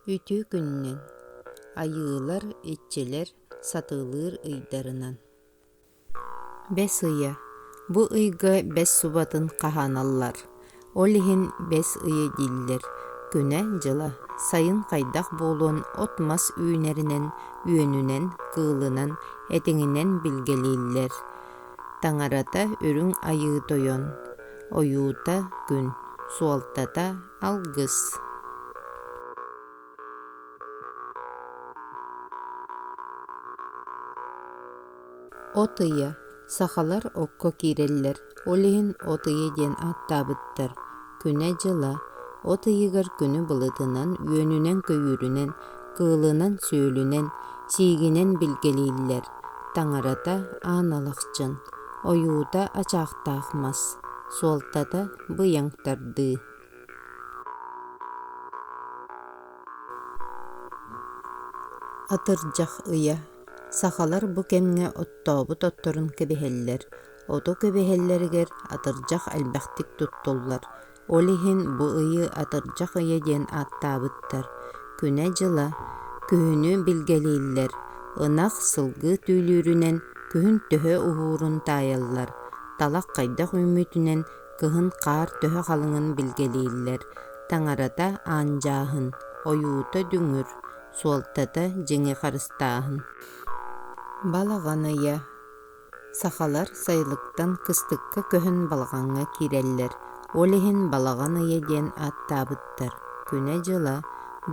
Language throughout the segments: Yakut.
Үтүө күнүнэн, айыылар, иччилэр сатыылыыр ыйдарынан. Бэс ыйа. Бу ыйга бэс субатын хаһааналлар. Ол иһин бэс ыйа дииллэр. Күнэ-дьыла. Сайын хайдах буолуон от-мас үүнэринэн, үөнүнэн, кыылынан, этиҥинэн билгэлииллэр. Таҥарата Үрүҥ Айыы Тойон, ойуута Күн, суолтата Алгыс. От ыйа Сахалар окко киирэллэр, ол иһин от ыйы диэн ааттаабыттар. күнэ-дьыла, от ыйыгар күнү былытынан-үөнүнэн-көйүүрүнэн, кыылынан-сүөлүнэн, сиигинэн билгэлииллэр, таҥарата аан алахчын, ойуута ачаахтаах мас, суолтата быйаҥтардыы. Атырдьах ыйа, сахалар бу кэмҥэ оттообут отторун кэбиһэллэр, Ото кэбиһэллэригэр атырдьах элбэхтик туттуллар, ол иһин бу ыйы Атырдьах ыйа диэн ааттаабыттар. Күнэ-дьыла, күһүнү билгэлииллэр. Ынах сылгы түүлүүрүнэн күһүн төһө уһуурун таайаллар, талах хайдах үүммүтүнэн кыһын хаар төһө халыҥын билгэлииллэр. Таҥарата аанчааһын, ойуута дүҥүр, суолтата дьиҥи харыстааһын. Балаҕан ыйа Сахалар сайылыктан кыстыкка көһөн балаҕаҥҥа киирэллэр, ол иһин балаҕан ыйа диэн ааттаабыттар. Күнэ-дьыла,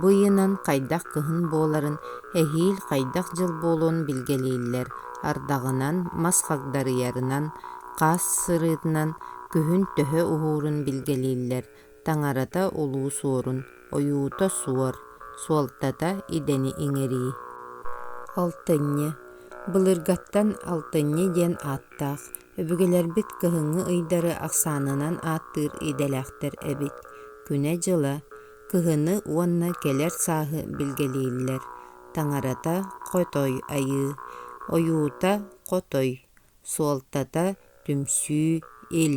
бу ыйынан хайдах кыһын буоларын, эһиил хайдах дьыл буолуон билгэлииллэр, ардаҕынан, мас хагдарыйарынан, хаас сырыытынан күһүн төһө уһуурун билгэлииллэр, таҥарата улуус уорун, ойуута суор, суолтата идэни иҥэрии. Алтынньы. Былыргаттан алтынньы диэн ааттаах, өбүгэлэрбит кыһыҥҥы ыйдары ахсаанынан ааттыыр идэлээхтэр эбит. Күнэ-дьыла, кыһыны уонна кэлэр сааһы билгэлииллэр. Таҥарата хотой айыы, ойуута хотой, суолтата түмсүү, ил.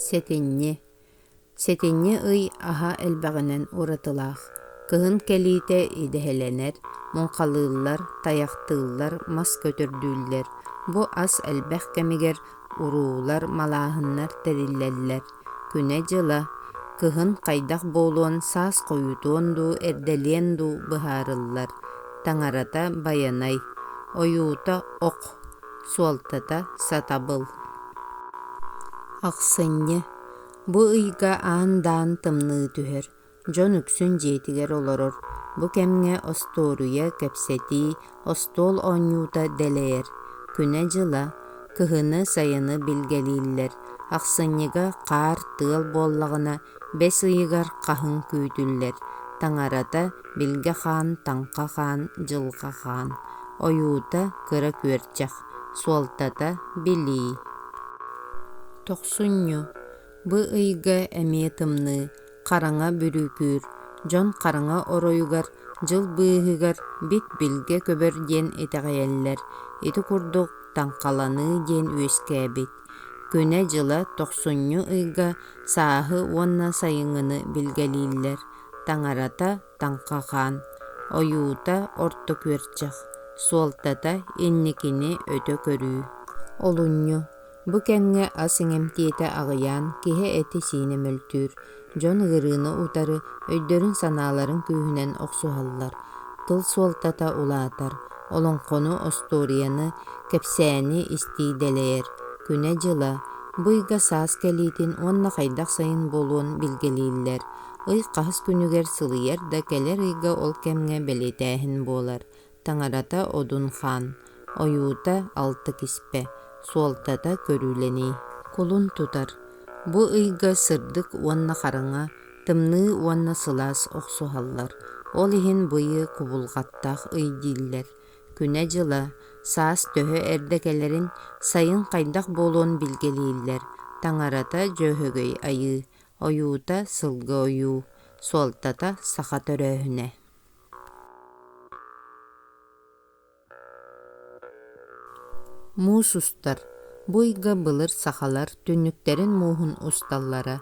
Сэтинньи Сэтинньи ый аһа элбэҕинэн уратылаах. Кыһын кэлиитэ идэһэлэнэр, муҥхалыыллар, тайахтыыллар, мас көтөрдүүллэр. Бу ас элбэх кэмигэр уруулар, малааһыннар тэриллэллэр. күнэ-дьыла, кыһын хайдах буолуон саас хойутуон дуу, эрдэлиэн дуу быһаарыллар, таҥарата байанай, ойуута ок, суолтата сатабыл. Ахсынньы бу ыйга аан-даан тымныы түһэр, Дьон үксүн дьиэтигэр олорор. Бу кэмҥэ остуоруйа, кэпсэтии, остуол оонньуута дэлэйэр. Күнэ-дьыла, кыһыны-сайыны билгэлииллэр. Ахсынньыга хаар, тыал буоллаҕына, бэс ыйыгар хаһыҥ күүтүллэр. Таҥарата, билгэ хаан, таҥха хаан, дьылҕа хаан. Ойуута, кыра күөрчэх. Суолтата, билии. Тохсунньу. Бу ыйга эмиэ тымныы. хараҥа бүрүүкүүр, дьон хараҥа оройугар, дьыл быыһыгар бит-билгэ көбөр диэн итэҕэйэллэр, ити курдук таҥхаланыы диэн үөскээбит. Күнэ-дьыла тохсунньу ыйга сааһы уонна сайыҥҥыны билгэлииллэр, таҥарата таҥхахаан, ойуута орто күөрчэх, суолтата инникини өтө көрүү. Олунньу, Бу кэмҥэ ас иҥэмтиэтэ аҕыйаан, киһи этэ-сиинэ мөлтүүр, дьон ыарыыны утары өйдөрүн-санааларын күүһүнэн охсуһаллар, тыл суолтата улаатар, олоҥхону, остуоруйаны, кэпсээни истии дэлэйэр, күнэ-дьыла, быйга-саас кэлиитин уонна хайдах сайын буолуон билгэлииллэр. Ый хаһыс күнүгэр сылыйар да кэлэр ыйга ол кэмҥэ бэлиэтээһин буолар, таҥарата одун хаан, ойуута алта киспэ, суолтата көрүүлэнии. Кулун тутар. Бу ыйга сырдык уонна хараҥа, тымныы уонна сылаас охсуһаллар, ол иһин бу ыйы кубулҕаттаах ый дииллэр. Күнэ-дьыла, саас төһө эрдэ кэлэрин, сайын хайдах буолуон билгэлииллэр, таҥарата дьөөһөгөй айыы, ойуута сылгы ойуу, суолтата саха төрөөһүнэ. Муус устар, бу ыйга былыр сахалар түннүктэрин мууһун усталлара,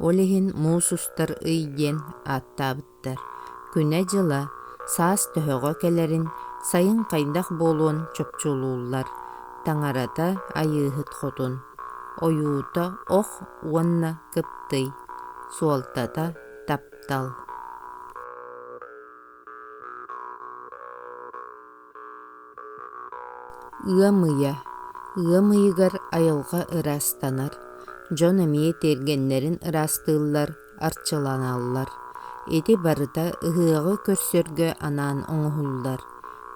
ол иһин муус устар ый диэн ааттаабыттар. Күнэ-дьыла, саас төһөҕө кэлэрин, сайын хайдах буолуон чопчулууллар. Таҥарата Айыыһыт Хотун, ойуута Ох уонна Кыптый, суолтата таптал Ыам ыйа Ыам ыйыгар айылҕа ыраастанар, дьон эмиэ тиэргэннэрин ыраастыыллар, арчыланаллар. Ити барыта ыһыаҕы көрсөргө анаан оҥоһуллар.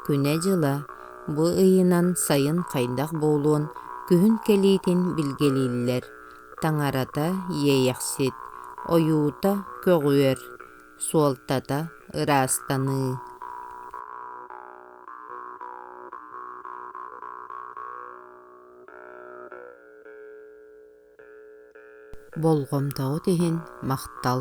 Күнэ-дьыла бу ыйынан сайын хайдах буолуон күһүн кэлиитин билгэлииллэр. таҥарата иэйэхсит, ойуута көҕүөр, суолтата ыраастаныы. Болҕомтоҕут иһин махтал.